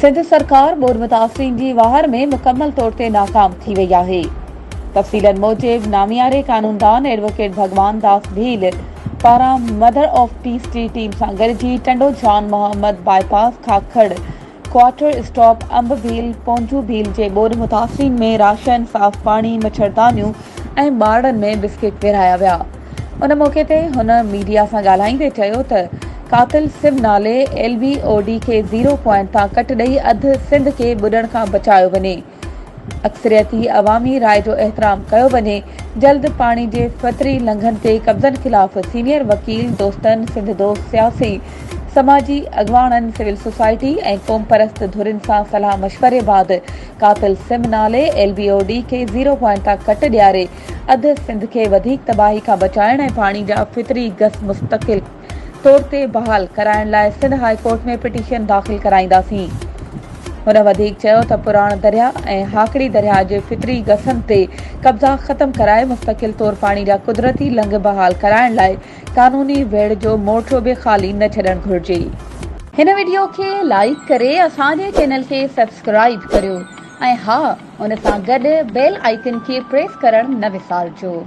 سنڌ سرڪار ٻوڏ متاثرين جي واهر ۾ مڪمل طور تي ناڪام ٿي وئي آهي تفصيلن موجب نامياري قانوندان ايڊووڪيٽ ڀڳوان داس ڀيل پاران مدر آف پيس جي ٽيم سان گڏجي Tando Jan Muhammad bypass Kakar quarter stop انب ڀيل پونجو ڀيل جي ٻوڏ متاثرين ۾ راشن صاف پاڻي مڇردانيون ۽ ٻارڙن ۾ بسڪٽ ورهايا ويا ان موقعي تي هن ميڊيا سان ڳالهائيندي چيو ته قاتل سم نالي ايل بي او ڊي کي زيرو پوائنٽ تان ڪٽ ڏئي اڌ سنڌ کي ٻڏڻ کان بچايو وڃي اڪثريتي عوامي راء جو احترام ڪيو وڃي، جلد پاڻي جي فطري لنگهن تي قبضن خلاف سينيئر وڪيل دوستن، سنڌ دوست، سياسي، سماجي اڳواڻن، سول سوسائٽي ۽ قومپرست ڌرين سان صلاح مشوري بعد قاتل سم نالي ايل بي او ڊي کي زيرو پوائنٽ تان ڪٽ ڏياري اڌ سنڌ کي وڌيڪ تباهي کان بچائڻ ۽ پاڻي جا فطري گس مستقل طور تي بحال ڪرائڻ لاء سنڌ هاء ڪورٽ ۾ پٽيشن داخل ڪرائينداسين. هن وڌيڪ چيو ته پراڻ درياهه ۽ هاڪڙي درياهه جي فطري گسن تي قبضا ختم ڪرائي مستقل طور پاڻي جا قدرتي لنگهه بحال ڪرائڻ لاء قانوني ويڙهه جو مورچو به خالي نه ڇڏڻ گهرجي. هن وڊيو کي لائيڪ ڪري اسان جي چينل کي سبسڪرائيب ڪريو ۽ ها ان سان گڏ بيل آئيڪن کي پريس ڪرڻ نه وسارجو.